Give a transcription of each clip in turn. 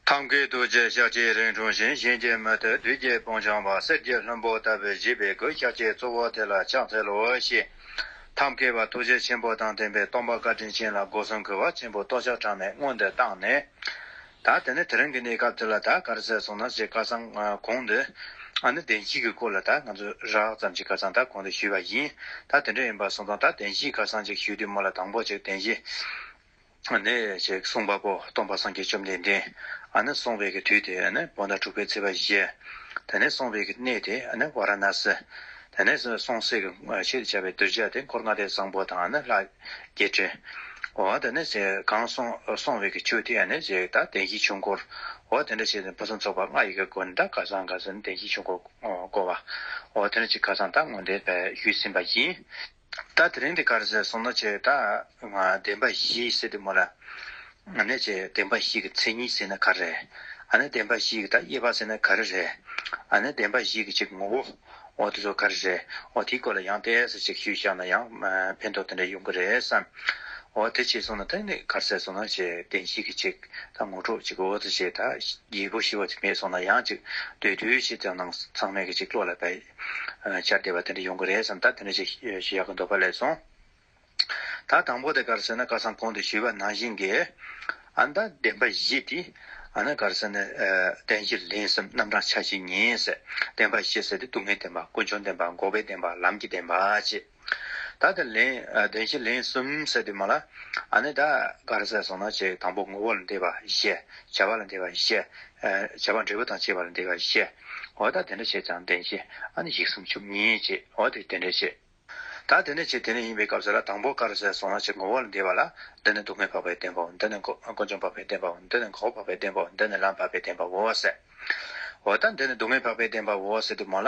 ཐབས་མཁས་རྡོ་རྗེ་ཤཱཀྱའི་རིགས་འཁྲུངས་ཤིང་གཤིན་རྗེའི་མུ་སྟེགས་བདུད་རྒྱལ་དཔུང་བྱང་བ་གསེར་གྱི་ལྷུན་པོ་ལྟ་བུའི་བཞི་པའི་གོས་ཤཱཀྱའི་གཙོ་བོ་དེ་ལ་ཕྱག་འཚལ་ལོ་ཞེས། ཐབས་མཁས་པ་ཐུགས་རྗེ་ཆེན་པོ་དང་ལྡན་པའི་སྟོང་པ་བཀའ་དྲིན་ཅན་ལ་སྒོ་གསུམ་གུས་པ་ཆེན་པོས་སྟོང་ཆ་གྲངས་མེད་བསྔོ་འདུན་བཏང་ནས། ད་དེ་ནས་དེ་རིང་གི་གནས་སྐབས་འདི་ལ་ད་གར་ཟས་སོང་ན་ཞེས་བཀའ་གསང་གོང་དུ། ཨ་ནི་བདེན་བཞིའི་གི་སྐོར་ལ་ད་ང་ཚོས་རགས་ཙམ་ཞིག་བཀའ་གསང་ད་གོང་དུ་ཞུས་པ་ཡིན། ད་དེ་འདྲ་ཡིན་པར་སོང་ཙང་ད་བདེན་བཞིའི་བཀའ་གསང་ཅིག་ཞུས་དུས་མོ་ལ་དང་པོ་ཅིག་བདེན་བཞི། ནས། ཞེས་གསུངས་པ་པོ་སྟོང་པ་སངས་རྒྱས་བཅོམ་ལྡན་འདས། ནས་སོང་བའི་དུས་ཏེ། བོ་ན་དྲུག་པའི་ཚེས་པ་བཞི། དེ་ནས་སོང་བའི་གནས་ཏེ། ཝཱ་ར་ན་སི། དེ་ནས་སོང་སྲིད་ཞེས་བྱ་བའི་གདུལ་བྱ་དེ་འཁོར་ལྔ་ལས་བཟང་པོ་དང་ལྷ། བརྒྱད་ཁྲི། འོ་དེ་ནས་གང་སོང་བའི་ཆུ་དེ། ནས་ཞེས་དང་གདན་བཞིའི་ཆུ་འཁོར། འོ་དེ་འདྲ་བྱས་ནས་ཕུན་སུམ་ཚོགས་པ་ལྔ་ཡི་གེ་དགོན་དང་ཀ་ཟང་ག་ཟིན་གདན་བཞིའི་ཆུ་འཁོར་བསྐོར་བ། འོ་དེ་འདྲ་བྱས་ཀ་ཟང་དང་དངོས་འབྲེལ་བརྒྱུད་ཟིན་པ་ཡིན། ད་དེ་རིང་འདི་གར་ཟེར་སོང་ན་ཆོས་དང། བདེན་པ་བཞི་ཟེར་དུས་མོ་ལ། ཨ་ནེ་ཆེ་བདེན་པ་བཞི་གི་མཚན་ཉིད་ཟེར་ན་ག་རེ་རེད། ཨ་ནེ་བདེན་པ་བཞི་གི་དག་དབྱེ་བ་ཟེར་ན་ག་རེ་རེད། ཨ་ནེ་བདེན་པ་བཞི་གི་ཆེད་ངོ་བོ། འོ་དེ་ཚོ་ག་རེ་རེད། འོ་དེའི་སྐོར་ལ་ཡང་བལྟས་ཟེར་ཅིག་ཞུས་བཞག་ན་ཡང་ཕན་ཐོག་དེ་འདྲ་ཡོང་གི་རེད་བསམ། འོ་དེ་བྱས་སོང་ན་ཐེངས་འདི་གར་ཟེར་སོང་ན་ཆོས་བདེན་བཞི་གི་ཆེད་དག་ངོ་འཕྲོག་ཅིག་འོ་དེ་བྱས་དག་རྒྱལ་པོ་ཞི་བ་དེ་མེད་སོང་ན་ཡང་ཅིག་སྡོད་དུས་ཆེད་དག་ནང་ཚང་མས་ཀྱི་ཅིག་བློ་ལ་བད། ཤར་བལྟས་པ་དེ་འདྲ་ཡོང་གི་རེད་བསམ་ད་དེ་འདྲ་ཞིག་ཞུ་ཡག་གི་འདུག་ཕ་ལས་སོང། ད་དང་པོ་དེ་ག་རེ་ཟེར་ན་སྐལ་བཟང་གོང་དུ་ཞུས་པ་ནང་བཞིན་གྱི། ཨ་མདའ་བདེན་པ་བཞི་དེ། ཨ་ན་ག་རེ་ཟེར་ན། བདེན་བཞི་ལས་སེམས་རྣམ་གྲངས་ཆ་བཞི་ཉིད། བདེན་པ་བཞི་ཟེར་དེ་སྡུག་བསྔལ་བདེན་པ་ཀུན་འབྱུང་བདེན་པ་འགོག་པའི་བདེན་པ་ལམ་གྱི་བདེན་པ་ཅེས། ད་དེ་ལན་བདེན་བཞི་ལན་གསུམ་ཟེར་དུས་མ་ལ་ཨ་ནི་ད་ག་རེ་ཟེར་སོང་ན་ཅེས་དང་པོ་ངོ་བོ་ལ་འདས་པ་བཤད། བྱ་བ་ལ་འདས་པ་བཤད། བྱ་བ་འབྲས་བུ་དང་བཅས་པ་ལ་འདས་པ་བཤད། འོ་ད་དེ་འདྲ་བྱས་ཀྱང་བདེན་བཞི་ཨ་ནི་ཞིག་གསུམ་བཅུ་གཉིས་ཅེས་འོ་དེ་དེ་འདྲ་བྱས། ད་དེ་འདྲ་བྱས་དེ་ནི་ཡིན་པའི་སྐབས་སུ་ལ་དང་པོ་ག་རེ་ཟེར་སོང་ན་ཅེས་ངོ་བོ་ལ་འདས་པ་ལ་འདི་ནི་སྡུག་བསྔལ་འཕགས་པའི་བདེན་པའོ་འདི་ནི་དཀོན་མཆོག་འཕགས་པའི་བདེན་པའོ་འདི་ནི་འགོག་པ་འཕགས་པའི་བདེན་པའོ་འདི་ནི་ལམ་འཕགས་པའི་བདེན་པའོ་ཟེར། འོ་ད་འདི་ནི་སྡུག་བསྔལ་འཕགས་པའི་བདེན་པའོ་ཟེར་དུས་མ་ལ་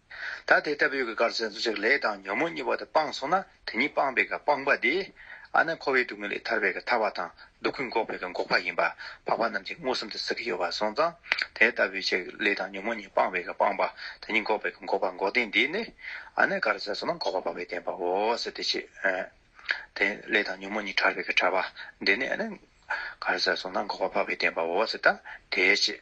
ད་དེ་ལྟ་བུའི་གི་གར་ཟེར་ཚུལ་ལས་དང་ཉོན་མོངས་གཉིས་པ་དང་སྤངས་སོང་ན་དེ་གཉིས་སྤངས་པའི་གི་སྤངས་པ་དེ། ཨ་ན་འཁོར་བའི་དུག་ལྔའི་ལས་ཐར་པའི་གི་ཐར་བ་དང་སྡུག་གི་འགོག་པའི་གི་འགོག་པ་ཡིན་པ་འཕགས་པ་རྣམས་ཀྱིས་མངོན་སུམ་དུ་གཟིགས་ཀྱི་ཡོད་པར་སོང་ཙང་དེ་ལྟ་བུའི་ཆེ་གི་ལས་དང་ཉོན་མོངས་གཉིས་སྤངས་པའི་གི་སྤངས་པ་དེ་གཉིས་འགོག་པའི་གི་འགོག་པ་འགོག་བདེན་འདི་ནི། ཨ་ན་གར་ཟེར་སོང་ན་འགོག་པ་སྤངས་པའི་བདེན་པའོ་ཟེར་ཏེ་ཆེ་གི་ལས་དང་ཉོན་མོངས་གཉིས་ཕྲ་བའི་གི་ཕྲ་བ་འདི་ནི་ཨ་ན་གར་ཟེར་སོང་ན་འགོག་པ་སྤངས་པའི་བདེན་པའོ་ཟེར་ད་དེའི་ཆེ།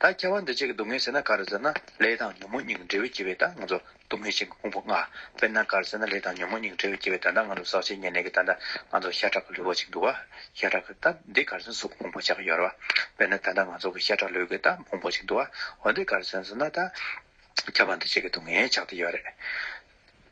ད་སྐྱེ་བ་འདི་ཅིག་གི་སྡུག་བསྔལ་ཟེར་ན་ག་རེ་ཟེར་ན་ལས་དང་ཉོན་མོངས་གཉིས་ཀྱི་འབྲས་བུ་སྐྱེ་བས་ད་ང་ཚོ་སྡུག་བསྔལ་ཆེན་གྱི་ཕུང་པོ་ལྔ། དཔེར་ན་ག་རེ་ཟེར་ན་ལས་དང་ཉོན་མོངས་གཉིས་ཀྱི་འབྲས་བུ་སྐྱེ་བས་ད་ལྟ་ང་ཚོ་ཟག་བཅས་ཉེར་གནས་ཀྱི་ད་ལྟ་ང་ཚོ་ཤ་ཁྲག་གི་ལུས་པོ་ཅིག་འདུག་ཨ། ཤ་ཁྲག་གི་ད་འདི་ག་རེ་ཟེར་གཟུགས་ཕུང་པོ་ཆགས་ཀྱི་ཡོད་རེད་བ། དཔེར་ན་ད་ལྟ་ང་ཚོ་གི་ཤ་ཁྲག་ལུས་ཀྱི་ད་ཕུང་པོ་ཅིག་འདུག་ཨ། འོན་ཏེ་ག་རེ་ཟེར་ཟེར་ན་ད་སྐྱེ་བ་འདི་ཅིག་གི་སྡུག་བསྔལ་ཆགས་ཀྱི་ཡོད་རེད།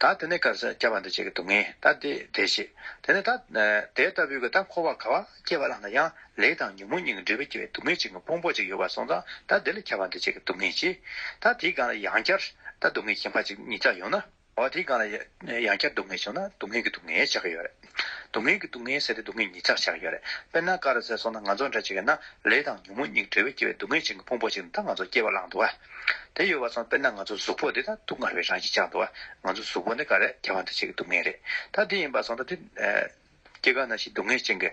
ད་དེ་ནས་གར་སྐྱ་བ་འདི་བྱེད་ཀྱི་འདུག་ངས་ད་དེ་བྲེད་ཤེས། དེ་ནས་ད་དེ་ལྟ་བུའི་གི་ད་འཁོར་བ་ག་བ་སྐྱེ་བ་ལངས་ན་ཡང་ལས་དང་ཉོན་མོངས་གཉིས་ཀྱི་འབྲས་བུ་སྐྱེ་བའི་སྡུག་བསྔལ་ཅན་གྱི་དཔུང་པོ་ཅིག་ཡོད་པར་སོང་ཙང་ད་དེ་ལས་ཁྱབ་པ་འདི་བྱེད་ཀྱི་འདུག་ངས་ཅི། ད་དེའི་སྒང་ལ་ཡང་བསྐྱར་ད་སྡུག་བསྔལ་གྱི་ཁྱིམ་ཕ་ཅིག་གཉིས་ཙམ་ཡོང་ན། འོ་དེའི་སྒང་ལ་ཡང་བསྐྱར་སྡུག་བསྔལ་བྱུང་ན་སྡུག་བསྔལ་གྱི་སྡུག་བསྔལ་བྱ་གི་ཡོད་རེད། སྡུག་བསྔལ་གྱི་སྡུག་བསྔལ་ཟད་དེ་སྡུག་བསྔལ་ཉིད་ཆགས་ཆགས་ཡོད་རེད། དཔེར་ན་ཀ་ར་ཟས་སོགས་ན་ང་ཚོ་འདྲ་བྱེད་མཁན་ན་ལས་དང་ཉོན་མོངས་གཉིས་འབྲེལ་བས་སྐྱེ་བའི་སྡུག་བསྔལ་ཅན་གྱི་ཕུང་པོ་ཞིག་འདི་ད་ང་ཚོར་སྐྱེ་བ་བླངས་འདུག་ཨ། དེ་ཡོད་པ་སོང་དཔེར་ན་ང་ཚོ་གཟུགས་པོ་འདི་ད་སྡུག་བསྔལ་བའི་རང་བཞིན་ཆགས་འདུག་ཨ། ང་ཚོ་གཟུགས་པོ་འདི་ཀ་རས་རྒྱ་བ་འདི་བྱེད་ཀྱི་སྡུག་བསྔལ་རེད། ད་འདི་ཡིན་པ་སོང་ད་འདི། སྐྱེ་རྒ་ན་འཆིའི་སྡུག་བསྔལ་ཅན་གྱི།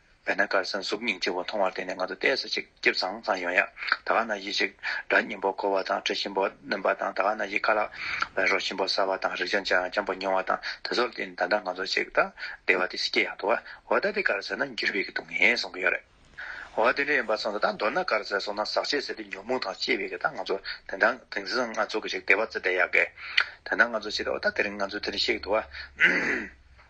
བས་ན་དཀར་གསལ་གཟུགས་སྙིང་རྗེ་བོ་མཐོང་བར་བརྟེན་ནས་ང་ཚོ་བལྟས་ས་ཅིག་སྐྱིབས་ཚང་ཚང་ཡོང་ཡ། ད་ག་ན་ཡིད་ཅིག་སྒྲ་སྙན་པོ་གོ་བ་དང་དྲི་ཞིམ་པོ་སྣོན་པ་དང་ད་ག་ན་ཡིད་ཁ་ལག་པའི་རོ་ཞིམ་པོ་ཟ་བ་དང་རིག་བྱ་འཇམ་པོ་མྱོང་བ་དང་དེ་ཚོར་བརྟེན་ནས་ད་ལྟ་ང་ཚོ་ཅིག་ལྟ་བདེ་བ་དེ་སྐྱེ་ཡག་འདུག་བ་ད་དེ་དཀར་གསལ་ན་འགྱུར་བས་ཀྱི་འདུག་ངས་གསུང་གི་ཡོད་རེད། བ་དེ་འདྲ་ཡིན་པ་སོང་ད་ད་མདོར་ན་དཀར་གསལ་སོང་ན་ཟག་བྱེད་ཟེར་དུས་ཉོག་མུག་དང་སྐྱེ་བས་ཀྱི་ད་ང་ཚོ་དེ་འདྲ་དེང་སང་ང་ཚོ་གི་ཅིག་བདེ་བ་བརྩེ་བདེ་ཡག་གི། དེ་ད་ང་ཚོ་ཅིག་ལྟ་བ་ད་དེ་རིང་ང་ཚོ་དེ་རིང་ཤེས་ཀྱི་འདུག་བ།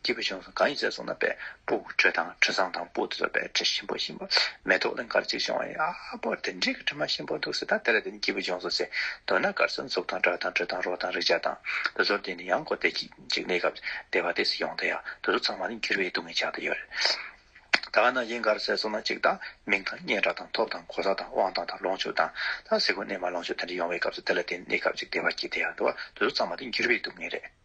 སྐྱེས་བུ་ཆུང་ཟོམ་གང་ཡིན་ཟེར་སོང་ན་པའི་སྤུ་དྲོད་དང་དྲོད་བཟང་དང་སྤུ་དོད་པའི་དྲི་ཞིམ་པོ་ཞིམ་པོ་མེ་ཏོག་གླིང་ཁར་གཅིག་བྱུང་བ་ཡིན་ཨ་ཕོ་དེ་འདྲས་ཀྱི་དྲི་མ་ཞིམ་པོ་འདུག་ཟེར་ད་དེ་ལ་དེ་ནི་སྐྱེས་བུ་ཆུང་ཟོམ་ཟེར་འདོད་ན་དགར་ཟོན་གཟུགས་དང་སྒྲ་དང་དྲོད་དང་རོ་དང་རེག་བྱ་དང་དེ་ཚོར་བརྟེན་ནས་ཡང་སྒོ་བསྟེན་གཅིག་གནས་སྐབས་བདེ་བ་དེ་སྲིད་ཡོང་ད་ཡ་དེ་ཚོ་ཚང་མ་ནི་འགྱུར་བའི་སྡུག་བསྔལ་ཆགས་ད་ཡོད་རེད་ད་ན་ཡིན་གར་ཟེར་སོང་ན་གཅིག་ད་མིང་དང་སྙན་གྲགས་དང་ཐོབ་དང་གོ་ས་དང་དབང་ཐང་དང་ལོངས་སྤྱོད་དང་ད་གཟིགས་གོ་གནས་མ་ལོངས་སྤྱོད་དེ་འདྲས་ཡོང་བའི་སྐབས་སུ་དེ་ལ་བརྟེན་ནས་སྐབས་གཅིག་བདེ་བ་སྐྱེས་ད་ཡ་འདུག་ཨ་དེ་ཚོ་ཚང་མ་དེ་འགྱུར་བའི་སྡུག་བསྔལ་རེད།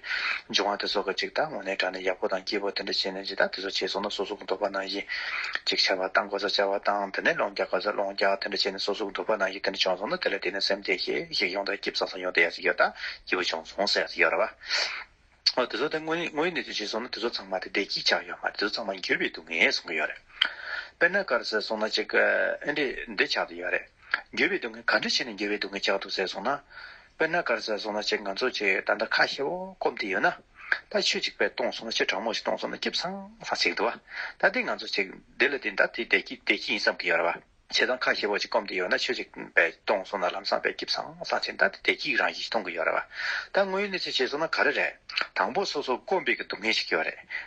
འབྱུང་བ་དེ་ཚོ་ག་ཅིག་དང་ངོ་ནའི་དྲ་ནས་ཡག་པོ་དང་སྐྱིད་པོ་དེ་འདྲ་བྱས་ནས་ཇི་ལྟར་དེ་ཚོ་བྱས་སོང་ན་སོ་སོ་གི་འདོད་པ་ནང་བཞིན་ཅིག་བྱ་བ་དང་གོ་ས་བྱ་བ་དང་དེ་ནས་ལོང་རྒྱག་གོ་ས་ལོང་རྒྱག་དེ་འདྲ་བྱས་ནས་སོ་སོ་གི་འདོད་པ་ནང་བཞིན་དེ་འདྲ་བྱུང་སོང་ན་དེ་ལ་བརྟེན་ནས་སེམས་བདེ་ཞིག་ཞིག་ཡོང་དང་སྐྱིད་བཟང་ཟང་ཡོང་དེ་ཡག་ཞིག་ཡོད་དང་སྐྱིད་པོ་བྱུང་སོང་ཟེར་ཡག་ཞིག་ཡོད་རེད་བ། ཨོ་དེ་ཚོ་དེ་དངོས་ཡོད་གནས་ཚུལ་བྱས་སོང་ན་དེ་ཚོ་ཚང་མ་དེ་བདེ་སྐྱིད་ཆགས་ཡོད་མ་རེད་དེ་ཚོ་ཚང་མ་འགྱོད་པའི་སྡུག་བསྔལ་སོང་གི་ཡོད་རེད། དཔེར་ན་སྐར་ཟེར་སོང་ན་ཅིག་ཨེ་འདྲས་འདྲས་ཆགས་འདུག་ཡོད་རེད། འགྱོད་པའི་སྡུག་བསྔལ་ག་འདྲ་བྱས་ནས་འགྱོད་པའི་སྡུག་བསྔལ་ཆགས་འདུག་ཟེར་སོང་ན། དཔེར་ན་དཀར་གསལ་བཟུང་ན་ཅེ་ང་ཚོ་ཅེ་ད་ལྟ་ཁ་ཤེ་བོ་སྐོམ་དེ་ཡོད་ན། ད་ཆོས་ཅིག་པའི་སྟོང་བཟུང་ན་ཅེ་དྲང་མོ་ཞིག་སྟོང་བཟུང་ན་སྐྱིབས་སང་སང་ཅེ་འདུག་བ། ད་འདི་ང་ཚོ་ཅེ་འདི་ལ་འདི་ད་དེ་བདེ་སྐྱིད་བདེ་སྐྱིད་ཡིན་བསམ་གི་ཡོད་ར་བ། ཅེ་ད་ཁ་ཤེ་བོ་ཅིག་སྐོམ་དེ་ཡོད་ན་ཆོས་ཅིག་པའི་སྟོང་བཟུང་ན་ལམ་སང་པའི་སྐྱིབས་སང་སང་ཅེ་ད་དེ་བདེ་སྐྱིད་རང་བཞིན་ཞིག་མཐོང་གི་ཡོད་ར་བ། ད་དངོས་ཡོད་གནས་ཚུལ་བྱས་བཟུང་ན་ག་རེ་རེད། དང་པོ་སོ་སོ་སྐོམ་པའི་གི་སྡུག་བསྔལ་ཞིག་ཡོད་རེད།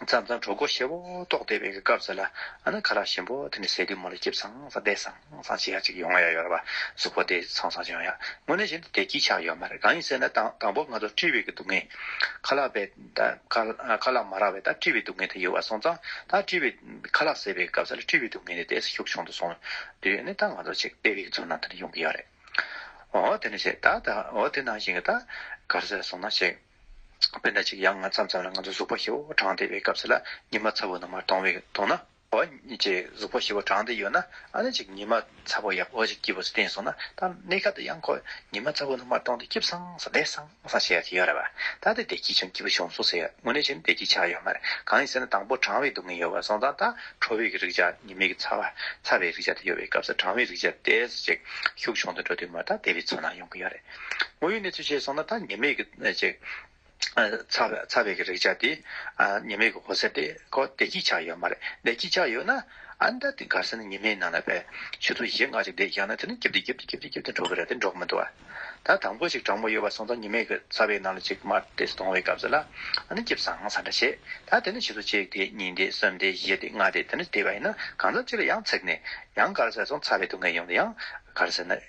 མཚམས་མཚམས་གྲོག་མགོ་ཤེལ་བོ་ཏོག་བལྟས་པའི་སྐབས་སུ་ལ་ཨ་ན་ཁ་རག་ཞིམ་པོ་དེ་ནི་ཟས་དུས་མོ་ལ་སྐྱིབས་ཚང་ས་བལྟས་སང་སང་བྱེད་ཡ་ཅིག་ཡོང་ཡ་ཡོད་པ་གཟུགས་པོ་བལྟས་ཚང་སང་ཅིག་ཡོང་ཡ་དངོས་གནས་བཞིན་དུ་དེ་སྐྱིད་ཆགས་ཡོད་མ་རེད་གང་ཡིན་ཟེར་ན་དང་པོ་ང་ཚོར་བཀྲིས་བེ་གི་སྡུག་བསྔལ། ཁ་ལག་བེ་ཁ་ལག་མ་རག་བེ་ད་བཀྲིས་བེ་སྡུག་བསྔལ་དེ་ཡོད་བ་སོང་ཙང་ད་བཀྲིས་བེ་ཁ་ལག་ཟས་བེ་གི་སྐབས་སུ་ལ་བཀྲིས་བེ་སྡུག་བསྔལ་དེ་དེ་སུ་ཤུགས་ཆུང་དུ་སོང་དུས་ནི་ད་ང་ཚོ་ཅིག་བལྟས་བེ་གི་ཚུར་ནང་དུ་ནི་ཡོང་གི་ཡོད་རེད་འོ་དེ་ནི་བྱས་ད་ད་འོ་དེ་ནང་བཞིན་གི་ད་གར་ཟེར་སོང་ན་ཅིག། དཔེར་ན་ཅིག་ཡང་ང་ཙམ་ཙམ་ལ་ང་ཚོ་གཟུགས་པོ་ཞི་བོ་གྲངས་བདེ་བའི་སྐབས་སུ་ལ་ཉི་མ་ཚ་བོ་ནང་མར་དོང་བའི་དོང་ན་འོ་ཅེས་གཟུགས་པོ་ཞི་བོ་གྲངས་བདེ་ཡོད་ན་ཨ་ན་ཅིག་ཉི་མ་ཚ་བོ་ཡང་འོ་ཅེས་སྐྱིད་པོ་ཚུལ་ལྡན་སོང་ན་ད་གནས་སྐབས་འདི་ཡང་ཁོ་ཉི་མ་ཚ་བོ་ནང་མར་དོང་སྟེ་སྐྱིད་སང་སང་བདེ་སང་སང་བྱེད་ཡ་གི་ཡོད་རེད་བ་ད་ལྟའི་བདེ་སྐྱིད་བྱུང་སྐྱིད་པོ་བྱུང་སུ་ཟེར་དངོས་གནས་བྱས་ན་བདེ་སྐྱིད་ཆགས་ཡོད་མ་རེད་གང་ཡིན་ཟེར་ན་དང་པོ་གྲང་བའི་སྡུག་བསྔལ་ཡོད་བ་སོང་ཙང་ད་ཁྲོ་བའི་རིག་བྱ་ཉི་མའི་ཚ་བ་ཚ་བའི་རིག་བྱ་དེ་ཡོད་པའི་སྐབས་སུ་གྲང་བའི་རིག་བྱ་བདེ་སྐྱིད་ཞིག་ཤུགས་ཆུང་དུ་འགྲོ་དུས་མོ་ད་བདེ་བའི་ཚོར་སྣང་ཡོང་གི་ཡོད་རེད། དངོས་ཡོད་གནས་ཚུལ་བཤད་སོང་ན་ད་ཉེས་མེད་ཀྱི་ཚ་བའི་གི་རེག་བྱ་དེ་ཉེས་མེད་ཀྱི་གོ་ཟེར་དེ་ཁོ་བདེ་སྐྱིད་ཆགས་ཡོད་མ་རེད་བདེ་སྐྱིད་ཆགས་ཡོད་ན་ཨན་ད་དེ་འགར་ཟེར་ན་ཉེས་མེད་ནང་ལ་བས་ཆུ་ཚོད་བཞི་ལྔ་ཅིག་བསྡད་ཀྱང་ན་དེ་ནི་སྐྱིབས་སྟེ་སྐྱིབས་སྟེ་སྐྱིབས་སྟེ་སྐྱིབས་སྟེ་འགྲོ་གི་རེད་དེ་འགྲོ་གི་མི་འདུག་ཨ་ད་དང་པོ་ཞིག་དྲང་མོ་ཡོད་པ་སོང་ཙང་ཉེས་མེད་ཀྱི་ཚ་བའི་ནང་ལ་ཅིག་མར་དེ་སོང་བའི་སྐབས་སུ་ལ་ཨ་ནི་སྐྱིབས་བཟང་ས་འདྲ་བྱེད་ད་དེ་ནི་ཆུ་ཚོད་གཅིག་དེ་གཉིས་དེ་གསུམ་དེ་བཞི་དེ་ལྔ་དེ་དེ་འདྲ་བསྡད་པ་ཡིན་ན་གང་ཙམ་ཅིག་ལ་ཡང་ཚེགས་ནས་ཡང་འགར་ཟེར་སོང་ཚ་བའི་སྡུག་བསྔལ་ཡོང་དུ་ཡང་འགར་ཟེར་ན།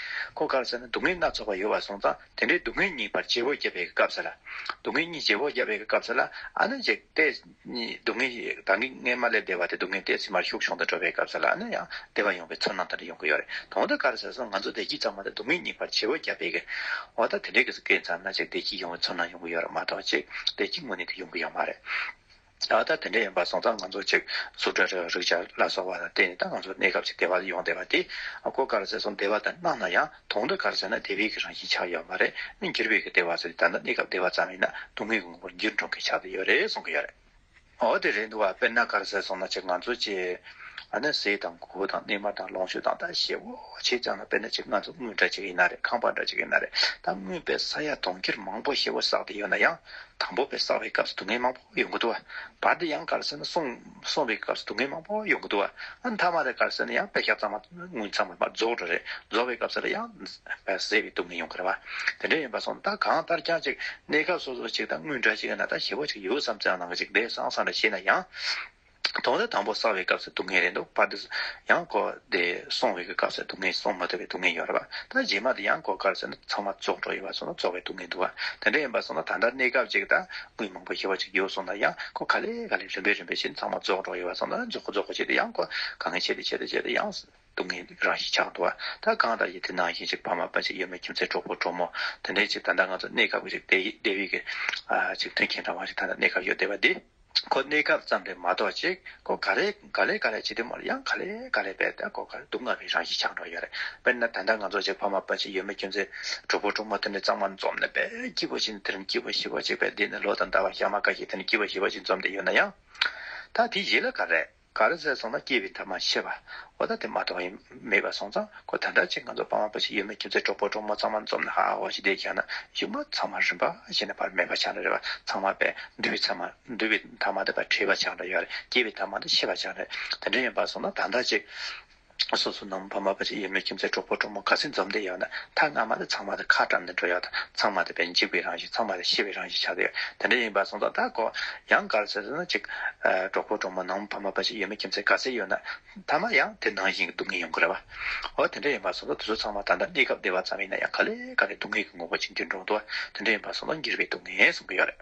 ཁོ་གར་ཟེར་ན་སྡུག་བསྔལ་སྣ་ཚོགས་པ་ཡོད་པར་སོང་ཙང་དེ་འདྲའི་སྡུག་བསྔལ་གཉིས་བར་བྱེད་པོ་བརྒྱབ་པའི་སྐབས་ཟེར། སྡུག་བསྔལ་གཉིས་བྱེད་པོ་བརྒྱབ་པའི་སྐབས་ཟེར་ལ་ཨ་ན་ཅེག་ཏས། སྡུག་བསྔལ་གྱི་གདངས་ཀྱི་མངལ་མ་ལས་འདས་པ་དེ་སྡུག་བསྔལ་ཏས་ཟིན་མར་ཤུགས་ཕྱུང་དུ་འགྲོ་བའི་སྐབས་ཟེར་ལ་ཨ་ན་ཡང་བདེ་བ་ཡོང་བའི་ཚོར་སྣང་དེ་འདྲ་ཡོང་གི་ཡོད་རེད་དོ་འོ་ད་གར་ཟེར་ས་ང་ཚོ་བདེ་སྐྱིད་ཙམ་མ་གཏོགས་སྡུག་བསྔལ་གཉིས་བར་བྱེད་པོ་བརྒྱབ་པའི་འོ་ད་དེ་འདྲའི་སྐད་ཚང་ན་ཅེག་བདེ་སྐྱིད་ཡོང་བའི་ཚོར་སྣང་ཡོང་གི་ཡོད་རེད་མ་གཏོགས་ཅེག་བདེ་སྐྱིད་དངོས་གནས་དེ་ཡོང་གི་ཡོད་མ་རེད། ད་ལྟ་དེ་འདྲ་ཡིན་པ་སོང་ཙང་ང་ཚོ་ཅིག་གཟུགས་སྒྲ་རེག་རིག་ཆར་ལ་སོགས་པ་ལ་བརྟེན་ནས་ད་ང་ཚོ་གནས་སྐབས་ཀྱི་བདེ་བ་ཡོང་བསྡད་པ་དེ་སྒོ་དཀར་ཟེར་སོང་བདེ་བ་དང་སྣང་ན་ཡང་དུང་མདའ་དཀར་ཟེར་ན་དེ་བས་ཀྱི་རང་བཞིན་ཆགས་ཡོད་མ་རེད་ནི་འགྱུར་བས་ཀྱི་བདེ་བ་ཟེར་ཏེ་ད་ལྟ་གནས་སྐབས་བདེ་བ་ཙམ་ཡིན་ན་སྡུག་བསྔལ་གྱི་ངོ་བོར་འགྱུར་འགྲོ་གི་ཆགས་ཀྱི་ཡོད་རེད་གསུང་གི་ཡོད་རེད། འོ་དེ་རེད་འདུག་བ་དཔེར་ན་དཀར་ཟེར་སོང་ན་ཅིག་ང་ཚོ་ཅིག་ཨ་ནེ་ཟས་དང་གོ་བོ་དང་སྣེ་མར་དང་ལོངས་སྤྱོད་དང་ད་ཞེས་བོ་བྱས་ཙང་ན་དཔེར་ན་ཅིག་ང་ཚོ་དངུལ་འདྲ་ཅིག་ཡིན་ན་རེད་ཁང་པ་འདྲ་ཅིག་ཡིན་ན་རེད་ད་དངུལ་བས་ས་ཡ་གྲོང་ཁྱེར་མང་བོ་ཞེས་བོ་བསགས་ཏེ་ཡོད་ན་ཡང་དང་པོ་བས་སྲ་བའི་སྐབས་སུ་སྡུག་བསྔལ་མང་པོ་ཡོང་གི་འདུག་བ། བར་དུ་ཡང་གར་སོང་ན་སོང་སོང་བའི་སྐབས་སུ་སྡུག་བསྔལ་མང་པོ་ཡོང་གི་འདུག་བ། ཨ་མཐའ་མ་རེ་གར་སོང་ན་ཡང་བད་ཤ་གཙང་མ་ངུ་ཚང་མ་རྫོགས་འགྲོ་རེད་རྫོགས་པའི་སྐབས་སུ་རེ་ཡང་བད་ཟེད་པའི་སྡུག་བསྔལ་ཡོང་གི་རེད་བ། དེ་འདྲ་ཡིན་པ་སོང་ད་གང་ལྟར་ཀྱང་ཅིག་གནས་སྐབས་སོ་སོར་ཅིག་དང་དངུལ་འདྲ་ཅིག་གི་ན་ད་ཞི་བ་ཅིག་ཡོད་བསམ་ཙང་ནང་གི་ཅིག་བདེ་སང་སང་འདྲ་བྱས་ན་ཡང། དོགས་འདི་དང་པོ་བསགས་པའི་སྐབས་སུ་སྡུག་བསྔལ་རེ་འདུག་པར་དུ། ཡང་གོ། དེ་སོང་བའི་སྐབས་སུ་སྡུག་བསྔལ་སོང་མ་ཐུབ་པའི་སྡུག་བསྔལ་ཡོད་རེད་པ། ད་རྗེས་མ་དེ་ཡང་གོ་གར་སོང་ན་ཚང་མ་བཙོག་འགྲོ་ཡོད་པ་སོང་ན་བཙོག་པའི་སྡུག་བསྔལ་འདུག་བ། དེ་འདྲ་ཡིན་པ་སོང་ན་ད་ལྟ་གནས་སྐབས་ཅིག་ད་དངུལ་མང་པོ་ཞེ་བ་ཅིག་ཡོད་སོང་ན་ཡང་གོ་ག་ལེ་ག་ལེ་རིམ་པས་རིམ་པས་བྱས་ནས་ཚང་མ་བཙོག་འགྲོ་ཡོད་པ་སོང་ན་རྫོགས་གོ་རྫོགས་གོ་བྱས་ཏེ་ཡང་གོ་ག་ངས་བྱས་ཏེ་བྱས་ཏེ་བྱས་ཏེ་ཡང། སྡུག་བསྔལ་གྱི་རང་བཞིན་ཆགས་འདུག་བ་ད་གང་ལྟར་ཡིན་དེ་ནང་བཞིན་ཅིག་ཕ་མ་དཔའ་ཅིག་ཡོད་མོད་ཁྱིམ་མཚེས་གྲོགས་པོ་གྲོགས་མོ་དེ་འདྲའི་ཅིག་ད་ལྟ་ང་ཚོ་གནས་སྐབས་ཀྱི་ཅིག་བདེ་བའི་གི་ཅིག་མཐུན་རྐྱེན་འདྲ་བ་ཅིག་ད་ལྟ་གནས་སྐབས་ཡོད་བསྡད་པ་འདི། ཁོ་གནས་སྐབས་ཙམ་རེད་མ་གཏོགས་ཅིག་ཁོ་ག་རེ་ག་ལེ་ག་ལེ་བྱེད་དུས་མོ་ལ་ཡང་ག་ལེ་ག་ལེ་བས་ད་ཁོ་ག་རེ་སྡུག་བསྔལ་གྱི་རང་བཞིན་ཆགས་འགྲོ་ཡོད་རེད་དཔེར་ན་ད་ལྟ་ང་ཚོ་ཅིག་ཕ་མ་དཔའ་ཅིག་ཡོད་མོད་ཁྱིམ་མཚེས་གྲོགས་པོ་གྲོགས་མོ་དེ་འདྲའི་གཙང་མ་འཛོམས་ནས་བས་སྐྱིད་པོ་ཅིག་འདི་རིང་སྐྱིད་པོ་ཞི་བ་ཅིག་བས་འདི་ནས་ལོ་དང་ཟླ་བ་ཞག་མ་འགའ་ཞིག་དེ་ནས་སྐྱིད་པོ་ཞི་བ་ཅིག་འཛོམས་བསྡད་ཡོད་ན་ཡང། ད་དེའི་གཞི་ལ་ག་རེ། ག་རེ་ཟེར་སོང་ན་སྐྱེས་པའི་ཐབས་མ་ཤེས་པ། ཨོ་ད་དེ་མ་གཏོགས་ཡིན་མེད་པ་སོང་ཙང་ཁོ་ད་འདྲ་ཅིག་ང་ཚོ་པ་མ་པོ་ཞིག་ཡོད་མེད་ཁྱིམ་མཚེས་གྲོགས་པོ་གྲོགས་མོ་ཚང་མ་འཛོམས་ན་ཧ་ཧ་བ་ཞིག་བསྡད་ཀྱང་ན་གཞུག་མ་ཚང་མ་རིམ་པ་བཞིན་ནས་བར་མེད་པ་ཆང་རེ་རེ་བ་ཚང་མ་བས་འདུལ་བའི་ཚད་མ་འདུལ་བའི་ཐ་མ་དེ་བ་ཁྲིད་པ་ཆང་རེ་ཡོད་རེ་སྐྱེས་པའི་ཐབས་མ་དེ་ཤེས་པ་ཆང་རེ་དེ་འདྲ་ཡིན་པ་སོང་ན་ད་འདྲ་ཅིག། སོ་སོ་ནང་མི་ཕ་མ་ཕ་ཆེ་ཡིད་མི་ཁྱིམ་མཚེས་གྲོགས་པོ་གྲོགས་མོ་ག་ཚད་འཛོམས་དུས་ཡང་ན་ཐ་སྔ་མ་དེ་ཚང་མ་དེ་ཁ་བཀྲམ་ནས་འགྲོ་ཡག་དང་ཚང་མ་དེ་བས་འཇིགས་པའི་རང་བཞིན་ཚང་མ་དེ་ཤི་བའི་རང་བཞིན་ཆགས་ཀྱི་ཡོད་དེ་འདྲ་ཡིན་པ་སོང་ཙང་ད་གོ་ཡང་ག་རེ་བྱེད་ཟེར་ན་གཅིག་གྲོགས་པོ་གྲོགས་མོ་ནང་མི་ཕ་མ་ཕ་ཆེ་ཡིད་མི་ཁྱིམ་མཚེས་ག་ཚད་ཡོད་ན་ཐ་མ་ཡང་དེ་ནང་བཞིན་གྱི་སྡུག་བསྔལ་ཡོང་གི་རེད་བ་འོ་དེ་འདྲ་ཡིན་པ་སོང་ཙང་དེ་ཚོ་ཚང་མ་ད་ལྟ་གནས་སྐབས་བདེ་བ་ཙམ་ཡིན་ན་ཡང་ག་ལེ་ག་ལེ་སྡུག་བསྔལ་གྱི་ངོ་བོ་ཅིག་འདིར་འགྲོ་འདུག་བ་དེ་འདྲ་ཡིན་པ་སོང་ཙང་འགྱུར་བའི་སྡུག་བསྔལ་གསུང་གི་ཡོད་རེད།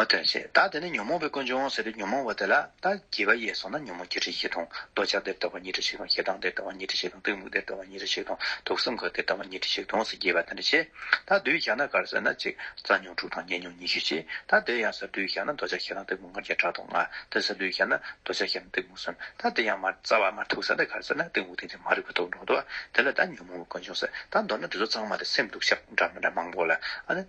བ་དོན་བྱེད་ད་དེ་ནས་ཉོན་མོངས་པའི་ཀུན་འབྱུང་ཟེར་བའི་ཉོན་མོངས་པ་དེ་ལ་ད་རྒྱས་པ་ཡས་སོང་ན་ཉོན་མོངས་བརྒྱད་ཁྲི་བཞི་སྟོང་འདོད་ཆགས་སྡེར་ལྟ་བ་ཉི་ཁྲི་བཞི་སྟོང་ཞེ་སྡང་སྡེར་ལྟ་བ་ཉི་ཁྲི་བཞི་སྟོང་གཏི་མུག་སྡེར་ལྟ་བ་ཉི་ཁྲི་བཞི་སྟོང་དུག་གསུམ་ག་སྡེར་ལྟ་བ་ཉི་ཁྲི་བཞི་སྟོང་ཟེར་རྒྱས་པ་དེ་འདྲ་བྱེད་ད་དུས་བཞག་ན་གར་ཟེར་ན་གཅིག་རྩ་ཉོན་དྲུག་དང་ཉེ་ཉོན་ཉི་ཤུ་བྱེད་ད་དེ་ཡང་ཟེར་དུས་བཞག་ན་འདོད་ཆགས་ཞེ་སྡང་གཏི་མུག་ལྔ་བརྒྱ་ཕྲག་དོག་ལྔ་དེ་ཟེར་དུས་བཞག་ན་འདོད་ཆགས་ཞེ་སྡང་གཏི་མུག་གསུམ་ད་དེ་ཡང་མར་རྩ་བ་མར་དུག་ཟེར་ན་གར་ཟེར་ན་གཏི་མུག་ཏིང་འཛིན་མ་རིག་པ་དུག་འགྲོ་འདོད་དེ་ལ་ད་ཉོན་མོངས་པའི་ཀུན་འབྱུང་ཟེར་ད་མདོར་ན་འདི་ཚོ་ཚང་མ་དེ་སེམས་དུག་ཞག་འདྲ་མི་འདྲ་མང་པོ་ལ་ཨ་ནི།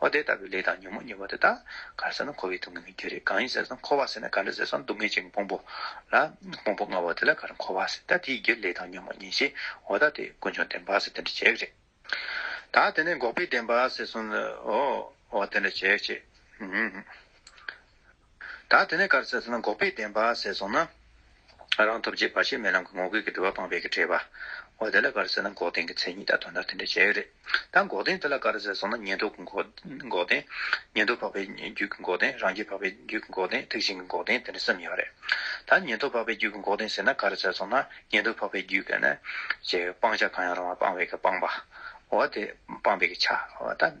ཨོ་དེ་ལྟ་བུའི་ལས་དང་ཉོན་མོངས་ཉེས་པ་དེ་དག་གར་ཟད་ན་འཁོར་བའི་སྡུག་བསྔལ་གྱི་རྒྱུ་རེད་གང་ཡིན་ཟེར་ན་འཁོར་བ་ཟེར་ན་ག་འདྲ་ཟེར་ན་སྡུག་བསྔལ་ཅན་གྱི་ཕུང་པོ་ལ། ཕུང་པོ་ལྔ་བོ་དེ་ལ་གར་འཁོར་བ་ཟེར་ད་དེའི་རྒྱུ་ལས་དང་ཉོན་མོངས་ཉེས་བྱས་འོ་ད་དེ་ཀུན་འབྱུང་བདེན་པ་ཟེར་དེ་འདྲ་བྱེད་རེད། ད་དེ་ནས་འགོག་པའི་བདེན་པ་ཟེར་སོང་ཨོ་དེ་འདྲ་བྱེད་བྱེད། ད་དེ་ནས་གར་ཟེར་སོང་ན་འགོག་པའི་བདེན་པ་ཟེར་སོང་ན། རང་ཐོབ་བྱེད་བར་ཆད་མེད་ལམ་གྱི་ངོ་རྒོལ་གྱི་དྲི་བ་སྤངས་པའི་གྲས་པ། འོ་དེ་ལ་གར་ཟེར་ན་འགོག་བདེན་གྱི་མཚན་ཉིད་དང་དོན་དག་དེ་འདྲ་བྱས་ཡོད་རེད། ད་འགོག་བདེན་དེ་ལ་གར་ཟེར་སོང་ན་ཉན་ཐོས་ཀྱི་འགོག་བདེན། ཉན་ཐོས་འཕགས་པའི་རྒྱུད་ཀྱི་འགོག་བདེན་རང་རྒྱལ་འཕགས་པའི་རྒྱུད་ཀྱི་འགོག་བདེན་ཐེག་ཆེན་གྱི་འགོག་བདེན་དེ་འདྲ་བསམ་ཡོད་པ་རེད། ད་ཉན་ཐོས་འཕགས་པའི་རྒྱུད་ཀྱི་འགོག་བདེན་ཟེར་ན་གར་ཟེར་སོང་ན་ཉན་ཐོས་འཕགས་པའི་རྒྱུད་ཀྱི་ནི། ཅེས་སྤང་བྱ་གང་ཡང་རུང་བ་སྤངས་པའི་གྱི་སྤངས་པ། འོ་དེ་སྤངས་པའི་གྱི་ཆ། འོ་ད།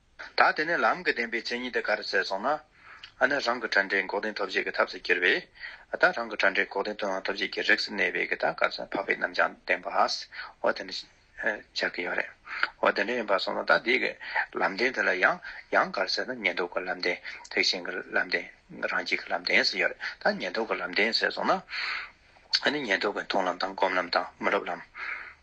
ད་དེ་ནས་ལམ་གྱི་བདེན་པའི་མཚན་ཉིད་དེ་ག་རེ་བཙལ་སོང་ན། ཨ་ནི་རང་གི་དྲན་འབྲས་འགོག་བདེན་ཐོབ་བྱེད་ཀྱི་ཐབས་སུ་གྱུར་པས། ད་རང་གི་དྲན་འབྲས་འགོག་བདེན་དོན་དབང་ཐོབ་བྱེད་ཀྱི་རིགས་སུ་གནས་པས་གི་ད་ག་ཚོད་འཕགས་པའི་རྣམ་བྱང་བདེན་པ་འོ་དེ་འདྲ་ཆགས་ཀྱི་ཡོད་རེད། འོ་དེ་འདྲ་ཡིན་པར་སོང་ན་ད་དེ་གི་ལམ་བདེན་དེ་ལ་ཡང་ཡང་ག་རེ་ཟེར་ན་ཉན་ཐོས་ཀྱི་ལམ་བདེན་ཐེག་ཆེན་གྱི་ལམ་བདེན་རང་རྒྱལ་གྱི་ལམ་བདེན་ཟེར་ཡོད་རེད་ད་ཉན་ཐོས་ཀྱི་ལམ་བདེན་ཟེར་སོང་ན། ཨ་ནི་ཉན་ཐོས་ཀྱི་མཐོང་ལམ་དང་སྒོམ་ལམ་དང་མི་སློབ་ལམ།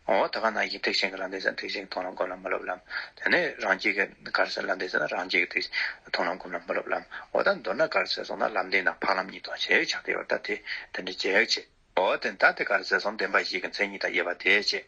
འོ་ད་ག་ནང་བཞིན་ཐེག་ཆེན་གྱི་ལམ་འདི་ཟེར་ན་ཐེག་ཆེན་གྱི་མཐོང་ལམ་སྒོམ་ལམ་མི་སློབ་ལམ། དེ་ནས་རང་རྒྱལ་གྱི་གར་ཟེར་ལམ་འདི་ཟེར་ན་རང་རྒྱལ་གྱི་མཐོང་ལམ་སྒོམ་ལམ་མི་སློབ་ལམ། འོ་ད་མདོར་ན་གར་ཟེར་སོང་ན་ལམ་འདི་ནང་འཕགས་ལམ་གཉིས་དང་གཞལ་ཡས་ཕྱག་རྒྱ་ཡོད་ད་དེ་འདི་འདྲའི་རྒྱལ་ཡག་ཆེ། འོ་དེ་ད་དེ་གར་ཟེར་སོང་བདེན་པ་བཞི་གྱི་མཚན་ཉིད་དང་དབྱེ་བ་དེ་ཅི།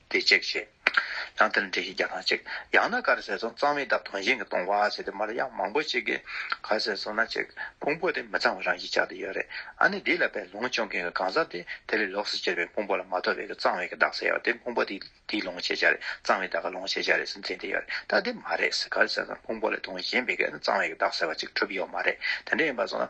དེ་གཅིག་བྱས། ཡང་དེ་ལ་འབྲས་ཤིག་བརྒྱ་ཐང་གཅིག། ཡང་ན་ག་རེ་ཟེར་སོང་གཙང་མའི་འདབ་དོང་ཞིང་གི་དོང་བ་ཟེར་དེ་མ་ལ་ཡང་མང་པོ་གཅིག་གི། ག་ཟེར་སོང་ན་གཅིག་ཕུང་པོ་དེ་མི་གཙང་བ་རང་བཞིན་ཅག་ཏུ་ཡོད་རེད་ཨ་ནི་དེ་ལ་པའི་ལོང་སྤྱོང་མཁན་གྱི་གང་ཟག་དེ་དེ་ལས་ལོགས་སུ་གྱེར་བའི་ཕུང་པོ་ལ་མ་ཐོབ་པའི་གི་གཙང་བའི་གི་བདག་ཟེར་བ་དེ་ཕུང་པོ་དེ་དེའི་ལོང་བྱེད་བྱ་རེད་གཙང་བའི་བདག་གི་ལོང་བྱེད་བྱ་རེད་ཟེར་འཛིན་དེ་ཡོད་རེད་ད་དེ་མ་རེད་ཟེར་ག་རེ་ཟེར་སོང་ཕུང་པོ་ལས་དོང་ཞེན་པའི་གི་ཨ་ནི་གཙང་བའི་གི་བདག་ཟེར་བ་གཅིག་གྲུབ་ཡོད་མ་རེད་དེ་འདྲ་ཡིན་པ་སོང་ན།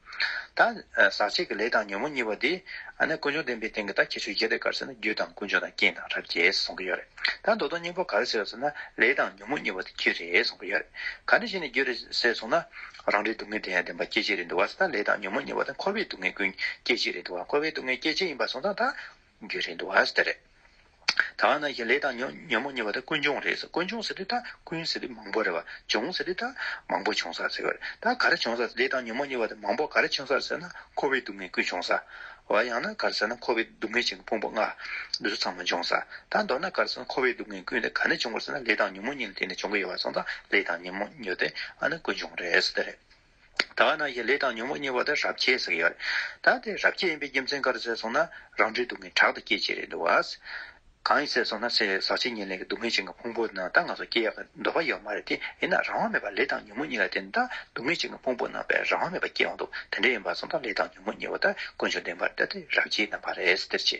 ད། ཟག་བཅས་ཀྱི་ལས་དང་ཉོན་མོངས་གཉིས་པ་འདི། ཀུན་འབྱུང་བདེན་པའི་སྟེང་གི་ད་ཁྱད་ཆོས་བརྒྱད་དེ་གར་ཟེར་ན་རྒྱུ་དང་ཀུན་འབྱུང་དང་རྐྱེན་དང་རབ་བྱེད་གསུང་གི་ཡོད་རེད། ད་མདོ་དོན་སྙིང་པོ་ག་རེ་ཟེར་ཟེར་ན་ལས་དང་ཉོན་མོངས་གཉིས་པ་འདི་རྒྱུ་རེད་གསུང་གི་ཡོད་རེད། ག་འདྲ་ཞིག་ནས་རྒྱུ་རེད་ཟེར་སོང་ན། རང་རེའི་སྡུག་བསྔལ་དེ་ཡང་བདེན་པ་སྐྱེ་མཆེད་རེད་འདུག་བ་ཟེར་ན་ལས་དང་ཉོན་མོངས་གཉིས་པ་དང་འཁོར་བའི་སྡུག་བསྔལ་ཀུན་སྐྱེ་མཆེད་རེད་འདུག་བ་འཁོར་བའི་སྡུག་བསྔལ་སྐྱེ་མཆེད་ཡིན་པ་སོང་ཙང་ད་རྒྱུ་རེད་འདུག་བ་དེ་རེད། ད་ང་ནང་བཞིན་ལས་དང་ཉོན་མོངས་ཉེ་བ་དག་ཀུན་འབྱུང་རེད་ཟེར་ཀུན་འབྱུང་ཟེར་དུས་ད་ཀུན་ཟེར་དུས་མང་པོ་རེད་བ་འབྱུང་ཟེར་དུས་ད་མང་པོ་བྱུང་ས་ཟེར་བ་རེད་ད་ག་རེ་བྱུང་ས་ཟེར་ལས་དང་ཉོན་མོངས་ཉེ་བ་དེ་མང་པོ་ག་རེ་བྱུང་ས་ཟེར་ན་འཁོར་བའི་སྡུག་བསྔལ་ཀུན་བྱུང་ས། བ་ཡང་ན་ག་རེ་ཟེར་ན་འཁོར་བའི་སྡུག་བསྔལ་བྱེད་པའི་ཕུང་པོ་ལྔ། འདི་ཚོ་ཚང་མ་འབྱུང་ས། ད་མདོར་ན་ག་རེ་ཟེར་ན་འཁོར་བའི་སྡུག་བསྔལ་ཀུན་དེ་ག་ནས་བྱུང་བ་ཟེར་ན་ལས་དང་ཉོན་མོངས་ཉིད་ལ་བརྟེན་ནས་བྱུང་གི་ཡོད་བ་སོང་ཙང་ལས་དང་ཉོན་མོངས་ཉོ་དེ་ཨ་ན་ཀུན་འབྱུང་རེད་ཟེར་ཏེ་རེད། ད་ག་ནང་བཞིན་ལས་དང་ཉོན་མོངས་གཉིས་པ་དེ་རབ་བྱེད་ཟེར་གྱི་ཡོད་རེད། ད་དེ་རབ་བྱེད་ཡིན་པའི་རྒྱུ་མཚན་ག་རེ་ཟེར་སོང་ན་རང་འཁྲིའི་སྡུག་བསྔལ་དྲག་ཏུ་སྐྱེད་བྱེད་རེད་འདུག་བ། གང་ཡིན་ཟེར་སོང་ན་ཚེ་ཟག་ཕྱི་ཉིན་ལེན་གྱི་སྡུག་བསྔལ་ཅན་གྱི་ཕུང་པོ་ནང་ལྟ་ང་ཚོ་སྐྱེ་ཡག་གི་འདོད་པ་ཡོད་མ་རེད་དེ་ཡིན་ན་རང་དབང་མེད་པར་ལས་དང་ཉོན་མོངས་གཉིས་ལ་བརྟེན་ནས་ལྟ་སྡུག་བསྔལ་ཅན་གྱི་ཕུང་པོ་ནང་པའི་རང་དབང་མེད་པར་སྐྱེ་འོང་འདུག་དེ་འདྲ་ཡིན་པ་སོང་ད་ལས་དང་ཉོན་མོངས་གཉིས་པ་ད་དཀོན་མཆོག་བདེན་པར་ལྟ་དེ་རབ་བྱེད་ནང་པ་རེད་ཟེར་ཅི།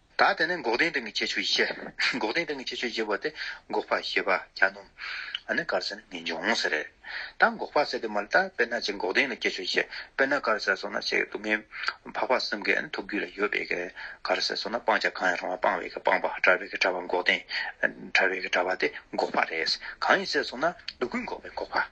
ད་དེ་ནས་འགོག་བདེན་སྟེང་གི་ཁྱད་ཆོས་བཞི། འགོག་བདེན་སྟེང་གི་ཁྱད་ཆོས་བཞི་པོ་དེ་འགོག་པ་ཞེས་པ་གྱ་ནོམ་ནི་དཀར་ཟལ་ནི་མི་འབྱུང་ཟེར། ད་འགོག་པ་ཟེར་དུས་མ་ལ་ད་དཔེར་ན་ཅིག་འགོག་བདེན་ལ་ཁྱད་ཆོས་བཞི་དཔེར་ན་དཀར་ཟལ་སོགས་ན་ཅིག་སྡུག་བསྔལ་འཕགས་པ་གསུམ་གའི་ཐུགས་རྒྱུད་ལ་ཡོད་པས་ཀྱི། དཀར་ཟལ་སོགས་ན་སྤང་བྱ་གང་ཡང་རུང་བ་སྤང་བའི་ཀྱི་སྤངས་པ་བྲལ་བའི་ཀྱི་བྲལ་བ་འགོག་བདེན། བྲལ་བའི་ཀྱི་བྲལ་བ་དེ་འགོག་པ་རེད། གང་ཡིན་ཟེར་སོང་ན་སྡུག་ཀུན་འགོག་པའི་འགོག་པ།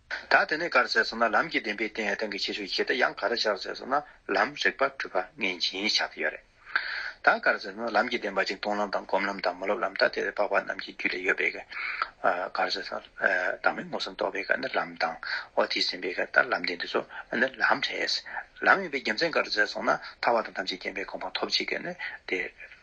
ད་དེ་ནས་གར་ཟེར་སོང་ན་ལམ་གྱི་བདེན་པའི་སྟེང་ཨེ་ཐང་གི་ཆེ་ཤོས་ཞེ་ད་ཡང་ག་རེ་ཆགས་ཟེར་སོང་ན་ལམ་རིག་པ་གྲུབ་པ་ངན་སྦྱིན་ཆགས་ཀྱི་ཡོད་རེད། ད་གར་ཟེར་སོང་ན་ལམ་གྱི་བདེན་པ་གཅིག་སྟོང་ལམ་དང་སྒོམ་ལམ་དང་མ་སློབ་ལམ་ད་དེ་རེད་འཕགས་པ་རྣམས་ཀྱི་རྒྱུད་ལས་ཡོད་པའི་གར་ཟེར་སོང་བདག་མེད་མངོན་སུམ་རྟོགས་པའི་གར་ནི་ལམ་དང་འོ་དེས་ཟིན་པའི་གར་ད་ལམ་བདེན་འདི་ཚོ་ནི་ལམ་རེད། ལམ་ཡིན་པའི་རྒྱུ་མཚན་གར་ཟེར་སོང་ན་ཐར་བ་དང་ཐམས་ཅད་མཁྱེན་པའི་གོ་འཕང་ཐོབ་བྱེད་གར་ནི་དེ།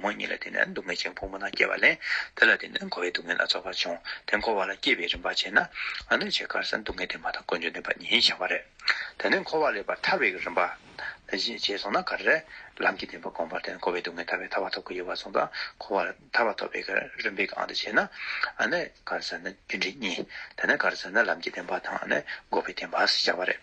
ངོ་གཉིས་ལ་བརྟེན་ནས་སྡུག་བསྔལ་ཅན་ཕུང་པོ་ན་སྐྱེས་པ་ལས་དེ་ལ་བརྟེན་ནས་འཁོར་བའི་སྡུག་བསྔལ་སྣ་ཚོགས་པ་འབྱུང་དེ་འཁོར་བ་ལ་སྐྱེས་པའི་རིམ་པ་བྱས་ན་ཨ་ནུ་བྱེ་དཀར་སེམས་སྡུག་བསྔལ་དེ་མ་ཐག་ཀུན་འབྱུང་བདེན་པ་ཉིད་བྱ་བ་རེད། དེ་ནས་འཁོར་བ་ལས་པར་ཐར་བའི་རིམ་པ། རྗེས་སོང་ན་གར་རེད། ལམ་གྱི་བདེན་པ་གོམས་པར་བརྟེན་འཁོར་བའི་སྡུག་བསྔལ་ཐར་བའི་ཐར་བ་ཐོབ་ཀྱི་ཡོད་པ་སོང་ཙང་འཁོར་བ་ལ་ཐར་བ་ཐོབ་པའི་རིམ་པའི་ཨང་དུ་བྱས་ན་ཨ་ནུ་གར་ཟེར་ན་རྒྱུ་འབྲས་གཉིས། དེ་ནས་གར་ཟེར་ན་ལམ་གྱི་བདེན་པ་དང་ཨ་ནུ་འགོག་པའི་བདེན་པ་ཞེས་བྱ་བ་རེད།